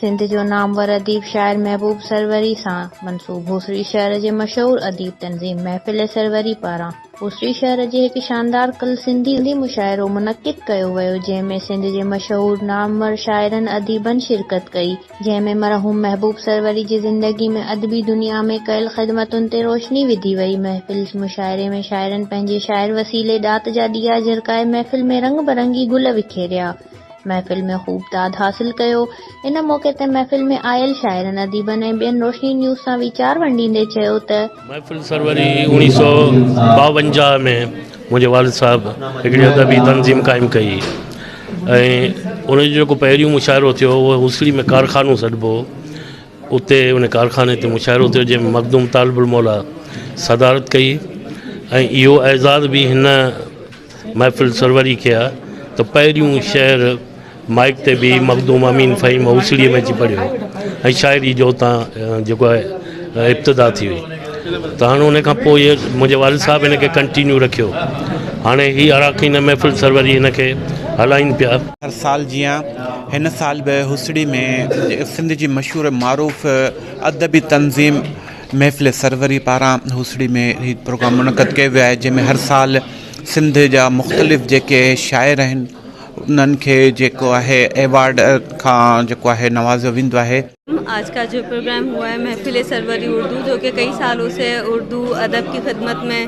سنڌ جو نامور اديب شاعر محبوب سروري سان منسوب هوسڙي شهر جي مشهور اديب تنظيم محفل سروري پاران هوسڙي شهر جي هڪ شاندار ڪل سنڌي مشاعرو منعقد ڪيو ويو جنهن ۾ سنڌ جي مشهور نامور شاعرن اديبن شرڪت ڪئي. جنهن ۾ مرحوم محبوب سروري جي زندگي ۾ ادبي دنيا ۾ ڪيل خدمتن تي روشني وڌي وئي. محفل مشاعري ۾ شاعرن پنهنجي شاعر وسيلي ڏات جا ڏيئا جرڪائي محفل ۾ رنگ برنگي گل وکيريا. محفل ۾ خوب داد حاصل ڪيو. ان موقعي تي محفل ۾ آيل شاعرن اديبن ۽ ٻين روشني نيوز سان ويچار ونڊيندي چيو ته. محفل سروري اوڻيهه سؤ ٻاونجاهه ۾ منهنجي والد صاحب هڪڙي ادبي تنظيم قائم ڪئي ۽ ان جو ڪو پهريون مشاعرو ٿيو هو هو هوسڙي ۾ ڪارخانو سڏبو هو اتي ان ڪارخاني تي مشاعرو ٿيو جنهن مخدوم طالب الموليٰ صدارت ڪئي ۽ اهو اعزاز بي هن محفل سروري کي آ ته پهريون شعر مائيڪ تي بيهي مخدوم امين فهيم اوسڙيء ۾ اچي پڙهيو ۽ شاعري جو اتان جيڪو آهي ابتدا ٿي وئي ته هاڻي ان کان پوء منهنجي والد صاحب هن کي ڪنٽينيو رکيو هاڻي هي اراڪين محفل سروري هن کي هلائين پيا. هر سال جيان هن سال به هوسڙي ۾ سنڌ جي مشهور معروف ادبي تنظيم محفل سروري پاران هوسڙي ۾ هي پروگرام منعقد ڪيو ويو آهي جنهن ۾ هر سال سنڌ جا مختلف جيڪي شاعر آهن انهن کي جيڪو آهي ايوارڊ کان جيڪو آهي نوازيو ويندو آهي. آج کا جو پروگرام هوا هي محفل سروري اردو جو ڪي ڪئي سالو سي اردو ادب ڪي خدمت مين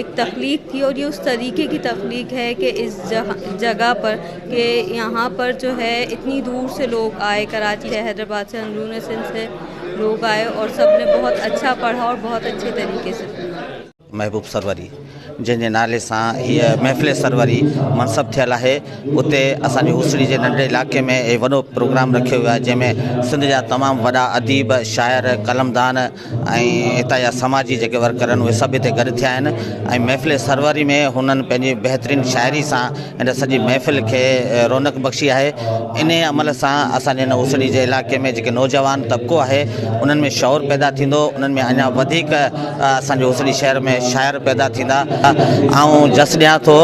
اک تخليق ٿي اور اس طريقي ڪي تخليق هي ڪي اس جگه پر ڪي يهان پر جو هي اتني دور سي لوگ آئي ڪراچي سي حيدرآباد سي اندرون سنڌ سي لوگ آئي اور سب ني بهت اچها پڙها اور بهت اچهي طريقي سي سنا. محبوب سروري جنهن جي نالي سان هيء محفل سروري منصب ٿيل آهي اتي اسان جي هوسڙي جي ننڍڙي علائقي ۾ هي وڏو پروگرام رکيو ويو آهي جنهن ۾ سنڌ جا تمام وڏا اديب شاعر قلمدان ۽ هتان جا سماجي جيڪي ورڪر آهن اهي سڀ هتي گڏ ٿيا آهن ۽ محفل سروري ۾ هنن پنهنجي بهترين شاعري سان هن سڄي محفل کي رونق بخشي آهي انهي عمل سان اسانجي هن اسري جي علائقي ۾ جيڪي نوجوان طبقو آهي انهن ۾ شعور پيدا ٿيندو انهن ۾ اڃا وڌيڪ اسانجي اسري شهر ۾ شاعر پيدا ٿيندا آئون جس ڏيان ٿو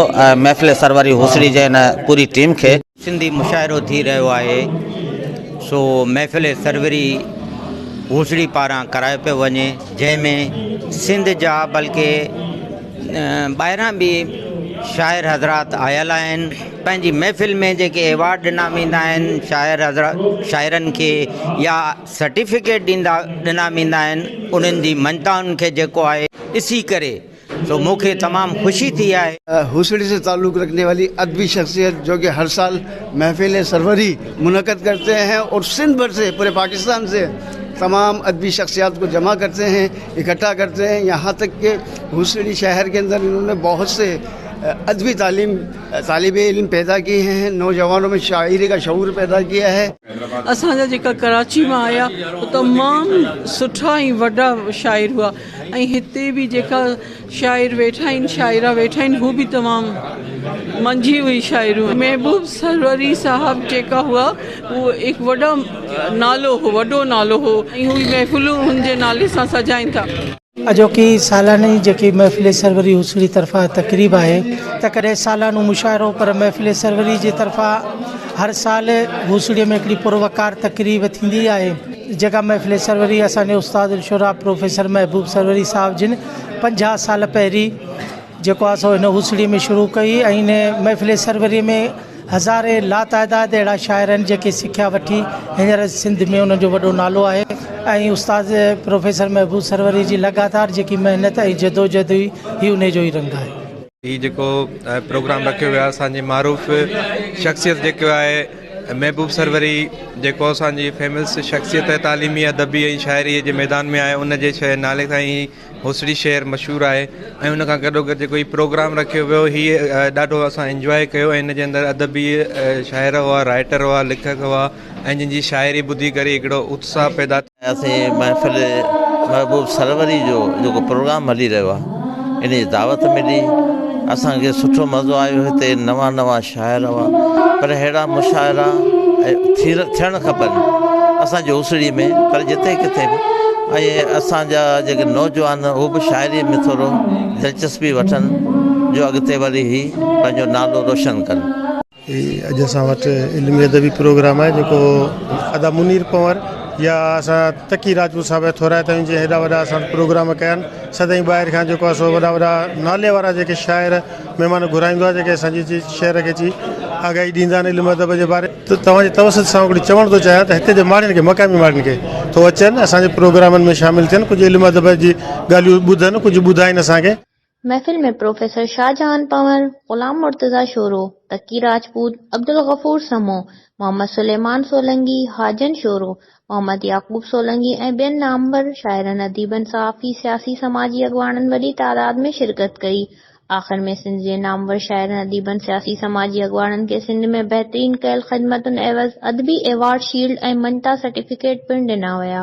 محفل سروري اسري جي هن پوري ٽيم کي سنڌي مشاعرو ٿي رهيو آهي سو محفل سروري هوسڙي پاران ڪرايو پيو وڃي جنهن ۾ سنڌ جا بلڪه ٻاهران به شاعر حضرات آيل آهن پنهنجي محفل ۾ جيڪي ايوارڊ ڏنا ويندا آهن شاعر حضرات شاعرن کي يا سرٽيفڪيٽ ڏيندا ڏنا ويندا آهن انهن جي مڃتائن کي جيڪو آهي ڏسي ڪري سو مون کي تمام خوشي ٿي آهي. هوسڙي سي تعلق رکني والي ادبي شخصيت جو ڪي هر سال محفل سروري منعقد ڪرتي هي اور سنڌ بھر سي پوري پاڪستان سي تمام ادبي شخصيات کو جمع ڪرتي هي اڪٺا ڪرتي هي يهان تڪ ڪي هوسڙي شهر ڪي اندر انهون ني بهت سي ادبي تعليم طالب علم پيدا ڪي هي نوجوانو مي شاعري ڪا شعور پيدا ڪيا هي. اسان جا جيڪا ڪراچي مان آيا تمام سٺا ۽ وڏا شاعر هئا. ۽ هتي به جيڪا شاعر ويٺا آهن شاعرا ويٺا آهن هو به تمام منجهي هئي شاعرون محبوب سروري صاحب جيڪا هئا هو هڪ وڏا نالو هو وڏو نالو هو ۽ هو محفلون هن جي نالي سان سجائين ٿا. اڄوڪي سالاني جيڪي محفل سروري هوسڙي طرفان تقريب آهي ته ڪڏهن سالانو مشاعرو پر محفل سروري جي طرفان هر سال هوسڙي ۾ هڪڙي پر وقار تقريب ٿيندي آهي. جيڪا محفل سروري اسان جي استاد الشعراء پروفيسر محبوب سروري صاحب جن پنجاهه سال پهرين جيڪو آهي سو هن هوسڙي ۾ شروع ڪئي ۽ هن محفل سروري ۾ هزارين لاتعداد اهڙا شاعر آهن جيڪي سکيا وٺي هينئر سنڌ ۾ انهن جو وڏو نالو آهي ۽ استاد پروفيسر محبوب سروري جي لڳاتار جيڪي محنت ۽ جدوجهد هئي هي انهي جو ئي رنگ آهي. هي جيڪو پروگرام رکيو ويو آهي اسان جي معروف شخصيت جيڪو آهي محبوب سروري جيڪو اسان جي فيمس شخصيت آهي تعليمي ادبي ۽ شاعري جي ميدان ۾ آهي ان جي شاعر نالي سان ئي هوسڙي شهر مشهور آهي ۽ ان کان گڏو گڏ جيڪو هي پروگرام رکيو ويو هي ڏاڍو اسان انجوائي ڪيو ۽ ان جي اندر ادبي شاعر هئا رائٽر هئا ليکڪ هئا ۽ جن جي شاعري ٻڌي ڪري هڪڙو اتساهه پيدا اسين محفل محبوب سروري جو جيڪو پروگرام هلي رهيو آهي ان جي دعوت ملي اسان کي سٺو مزو آيو هتي نوا نوا شاعر هئا پر اهڙا مشاعرا ٿيڻ کپن اسان جي اوسڙي ۾ پر جتي ڪٿي به ۽ اسان جا جيڪي نوجوان هو به شاعري ۾ ٿورو دلچسپي وٺن جو اڳتي وري هي پنهنجو نالو روشن ڪن هي اڄ اسان وٽ علمي ادبي پروگرام آهي جيڪو ادا منير پنور يا اسان تقي راجپوت صاحب جا ٿورائتا آهيون جنهن هيڏا وڏا اسان وٽ پروگرام ڪيا آهن سدائين ٻاهر کان جيڪو آهي سو وڏا وڏا نالي وارا جيڪي شاعر مهمان گهرائيندو آهي جيڪي اسان جي شهر کي اچي آگاهي ڏيندا آهن علم ادب جي باري ته توهان جي توسط سان هڪڙي چوڻ ٿو چاهيان ته هتي جي ماڻهن کي مقامي ماڻهن کي ٿو اچن اسان جي پروگرامن ۾ شامل ٿين ڪجهه علم ادب جي ڳالهيون ٻڌن ڪجهه ٻڌائين اسان کي محفل ۾ پروفيسر شاهجهان پنور، غلام مرتضيٰ شورو، تقي راجپوت، عبدالغفور سمو، محمد سليمان سولنگي، حاجن شورو، محمد يعقوب سولنگي ۽ ٻين نامور شاعرن، اديبن، صحافي، سياسي سماجي اڳواڻن وڏي تعداد ۾ شرڪت ڪئي. آخر ۾ سنڌ جي نامور شاعرن، اديبن، سياسي سماجي اڳواڻن کي سنڌ ۾ بهترين ڪيل خدمتن عيوض ادبي ايوارڊ شيلڊ ۽ مڃتا سرٽيفڪيٽ پڻ ڏنا ويا.